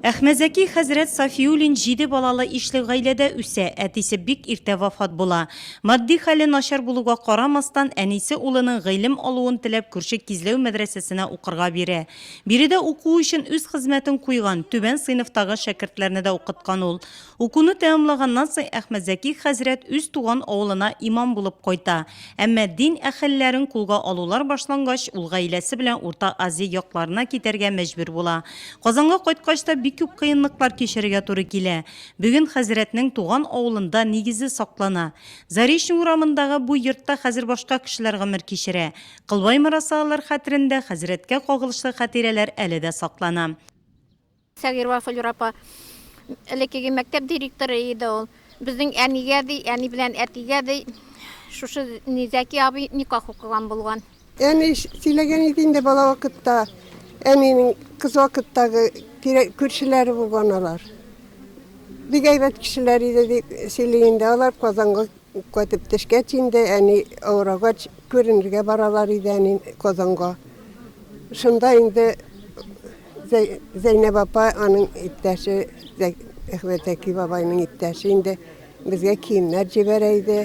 Әхмәзәки хәзрәт Сафиуллин җиде балалы ишле гаиләдә үсә, әтисе бик иртә вафат була. Матди хәле начар булуга карамастан, әнисе улының гыйлем алуын теләп күрше Кизләү мәдрәсәсенә укырга бирә. Биредә уку өчен үз хезмәтен куйган, түбән сыйныфтагы шәкертләрне дә укыткан ул. Укуны тәмамлаганнан соң Әхмәтзәки хәзрәт үз туган авылына имам булып кайта. Әмма дин әһелләрен кулга алулар башлангач, ул гаиләсе белән Урта Азия якларына китәргә мәҗбүр була. Казанга кайткач та бик күп кыенлыклар кичерергә туры килә. Бүген хәзрәтнең туган авылында нигезе саклана. Заречный урамындагы бу йортта хәзер башка кешеләр гомер кичерә. Кылбай морассалылар хәтерендә хәзрәткә кагылышлы хатирәләр әле дә саклана. Сәгыйрова Флюра апа элеккеге мәктәп директоры иде ул. Безнең әнигә ди, әни белән әтигә ди, шушы Низәки абый никах укыган булган. Әни сөйләгән иде инде бала вакытта, әнинең кыз вакыттагы күршеләре булган алар. Бик әйбәт кешеләр иде дип сөйли инде. Алар Казанга кайтып төшкәч инде, әни авырагач, күренергә баралар иде әни Казанга. Шунда инде Зәйнәп апа, аның иптәше, Әхмәтзәки бабайның иптәше инде, безгә киемнәр җибәрә иде.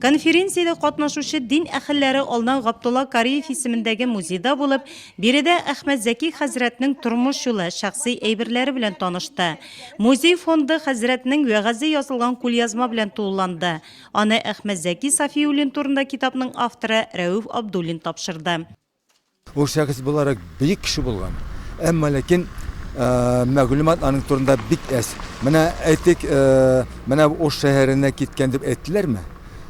Конференциядә катнашучы дин әһелләре алдан Габдулла Кариев исемендәге музейда булып, биредә Әхмәтзәки хәзрәтнең тормыш юлы, шәхси әйберләре белән танышты. Музей фонды хәзрәтнең вәгазе язылган кулъязма белән тулыланды. Аны Әхмәтзәки Сафиуллин турында китапның авторы Рәүф Абдуллин тапшырды. Ул шәхес буларак бөек кеше булган. Әмма ләкин мәгълүмат аның турында бик әз. Менә әйтик, менә Ош шәһәренә киткән дип әйттеләрме?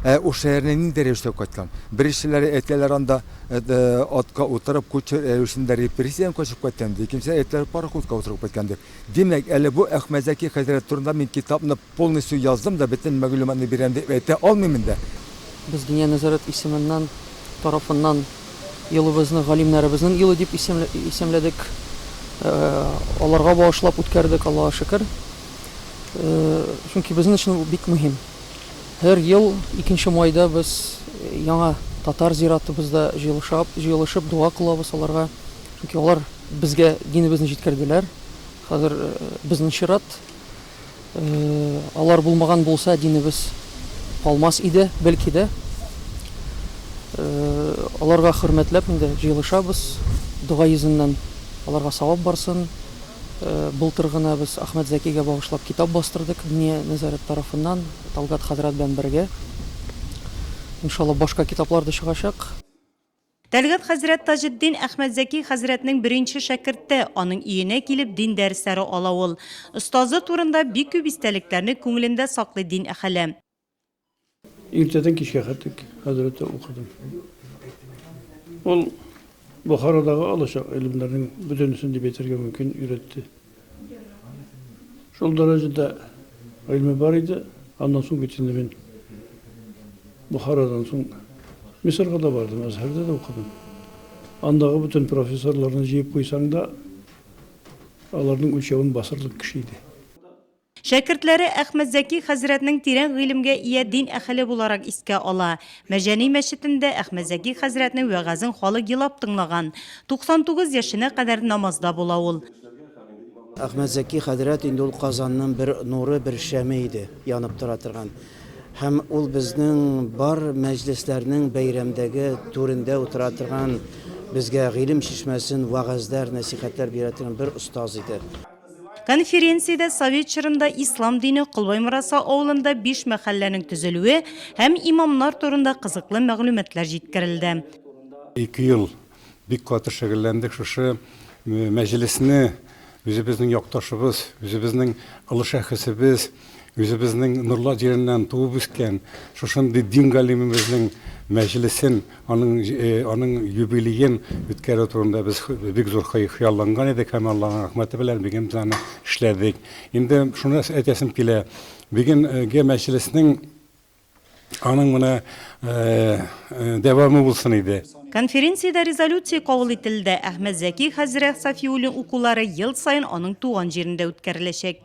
Ә Ош шәһәренә нинди рәвештә кайткан? Беренчеләре әйтәләр анда атка утырып, кучер рәвешендә репрессиядән качып кайткан, икенчеләр әйтәләр пароходка утырып кайткан дип. Димәк, әле бу Әхмәтзәки хәзрәт турында мин китапны Полностью яздым да, бөтен мәгълүматны бирәм дип әйтә алмыйм инде. Без Диния нәзарәт исеменнән, тарафыннан елыбызны галимнәребезнең елы дип исемләдек. Аларга багышлап үткәрдек, Аллага шөкер. Чөнки безнең өчен бу бик мөһим. Һәр ел икенче майда без яңа татар зиратыбызда җыелышаб, җыелышып дога кылабыз аларга. Чөнки алар безгә динебезне җиткерделәр. Хәзер безнең чират. Алар булмаган булса, динебез калмас иде, бәлки дә. Аларга хөрмәтләп инде җыелышабыз. Дога йөзеннән аларга савап барсын. Былтыр гына без Ахмәт Зәкигә багышлап китап бастырдык, Диния нәзарәт тарафыннан, Талгат хәзрәт белән бергә. Иншалла, башка китаплар да чыгачак. Тәлгат хәзрәт Таҗетдин Әхмәтзәки хәзрәтнең беренче шәкерте, аның өенә килеп дин дәресләре ала ул. Остазы турында бик күп истәлекләрне күңелендә саклый дин әхеле. Иртәдән кичкә хәтлек хәзрәттә укыдым. Ул Бохарадагы алачык гыйлемнәрнең бөтенесен дип әйтергә мөмкин, өйрәтте. Шул дәрәҗәдә гыйльме бар иде, аннан соң бит инде мин Бухарадан соң Мисырга да бардым, Әзһәрдә дә укыдым. Андагы бөтен профессорларны җыеп куйсаң да, аларның үлчәвен басырлык кеше иде. Шәкертләре Әхмәтзәки хәзрәтнең тирән гыйлемгә ия дин әхеле буларак искә ала. Мәҗәни мәчетендә Әхмәтзәки хәзрәтнең вәгазен халык елап тыңлаган. 99 яшенә кадәр намазда була ул. Әхмәтзәки хәзрәт инде ул Казанның бер нуры, бер шәме иде, янып тора торган. Һәм ул безнең бар мәҗлесләрнең бәйрәмдәге түрендә утыра торган, безгә гыйлем чишмәсен, вәгазьләр, нәсыйхәтләр бирә торган бер остаз иде. Конференциядә совет чорында ислам дине Колбаймораса авылында биш мәхәлләнең төзелүе һәм имамнар турында кызыклы мәгълүматлар җиткерелде. Ике ел Бик каты шөгыльләндек шушы мәҗлесне үзебезнең якташыбыз, үзебезнең олы шәхесебез, үзебезнең Нурлат җиреннән туып үскән шушындый дин галимебезнең мәҗлесен, аның э, аның юбилеен үткәрү турында без бик зур хыялланган идек һәм Аллаһның рәхмәте белән бүген без аны эшләдек. Инде шуны әйтәсем килә, бүгенге мәҗлеснең Аның менә дәвамы булсын иде. Конференциядә резолюция кабул ителде, Әхмәт Зәки хәзрәх Сафиуллин укулары ел саен аның туган җирендә үткәреләчәк.